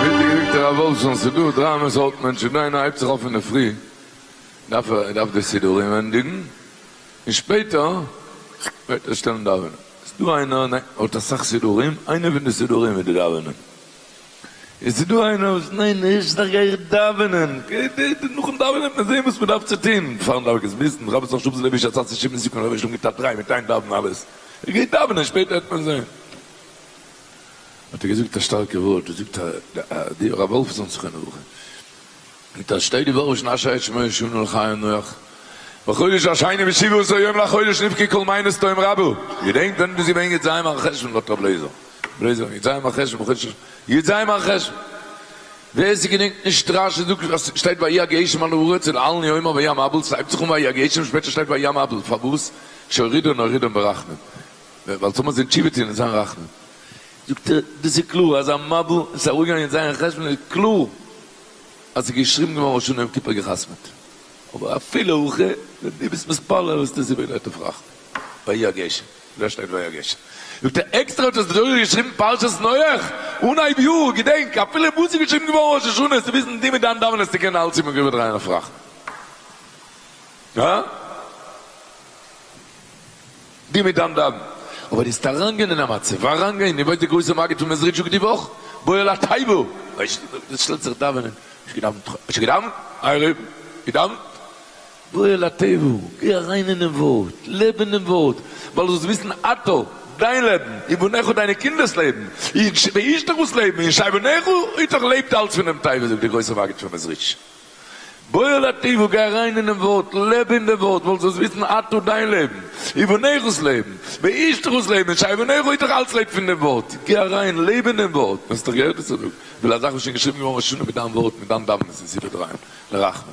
ווידער געקוקט הרב וואלפסאן ס'דא דרײַ סארט מענטשן, דער איינער הייבט זיך אויף אינדערפרי דארף ער ער דארף די סידורים ענדיגן און שפעטער וועט ער שטעלן דאווענען, ס'דא איינער ניין האט אסאך סידורים איינער פון די סידורים איז די דאווענען. איז ס'דא איינער וואס ניין נישט זיך גיי איך דאווענען נאכן דאווענען וועט מען זעהן וואס מען דארף צו טוהן פארן דארף איך עס וויסן רבוש ע שוב זה לוי שצץ ע שיב נסיכון רבוש ע גיט א טריי מיט איין דאווענען אלעס איך גיי דאווענען שפעטער וועט מען זעהן האט ער געזאגט א שטארקע ווארט דאס זאגט די הרב וואלפסאן זכרונו לברכה מיט א שתי דיברות שנה שעה שמונה שנה לחיים נח בחודש השני בשבעה עשר יום לחודש נבכה כל מעיינות תהום רבו געדענקט ווען איז געווען י ז מר חשון לאט רב לעיזער בלעזער י ז מר חשון בחודש י ז מר חשון ווער ס'געדענקט נישט רש י זאגט אז ס'שטייט ויהי הגשם על הארץ און אלן יומא ויהי המבול ס'הייבט זיך אן ויהי הגשם שפעטער שטייט ויהי המבול פארוואס שהורידון הורידון ברחמים ווייל ס'זאל מען זיין תשובה טון און זיין רחמן זאגט ער דאס איז קלאר אז א מבול איז אראפגעגאנגען י ז מר חשון איז קלאר אז ס'איז געשריבן געווארן ראש השנה יום כיפור געחתמ'ט, אבער אפילו הכי, ווען דו ביסט מתפלל וועסטו דאס איבער לויט אפראכטן, ויהי הגשם, דא שטייט ויהי הגשם, זאגט ער עקסטער האט עס דער זוהר געשריבן פרשת נח, אנהייב יאר, געדענק, אפילו וואס איז געשריבן געווארן ראש השנה איז צו וויסן דו מיט דיין דאווענען וועסטו קענען אלץ איבער געבעט דרייען אפראכטן. דו מיט דיין דאווענען. אבער דו זעסט אריינגיין אין א מצב, אריינגיין, ווי ווייזט די גרויסע מגיד פון מעזריטשוק די וואך, בוא אל התיבה, ווייסט דו, דאס שטעלט זיך דאווענען, האסט געדאווענט, האסט געדאווענט, עירוב, געדאווענט, בוא אל התיבה, גיי אריין אינעם ווארט, לעב אינעם ווארט, ווייל זאלסט וויסן אתה, דיין לעבן, ובניך דיינע קינדער'ס לעבן, ואשתך'ס לעבן, און שייבעניך, איתך לעבט אלץ פונעם תיבה זאגט די גרויסע מגיד פון מעזריטש. בועל התיבה, גיי אריין אינעם ווארט, לעב אין דעם ווארט, וואלסט דאס וויסן אתה דיין לעבן, ובניך'ס לעבן, ואשתך'ס לעבן, נישט אייוועלט נער איז דאך אלץ לעב פון דעם ווארט, גיי אריין, לעב אין דעם ווארט, מיר האסט דאך געהערט וואס איך זאג, וויל א זאך וואס שוין געשריבן געווארן וואס שונה מיט דיין ווארט, מיט דיין דאווענען איז איבער דרייען, לרחמנ.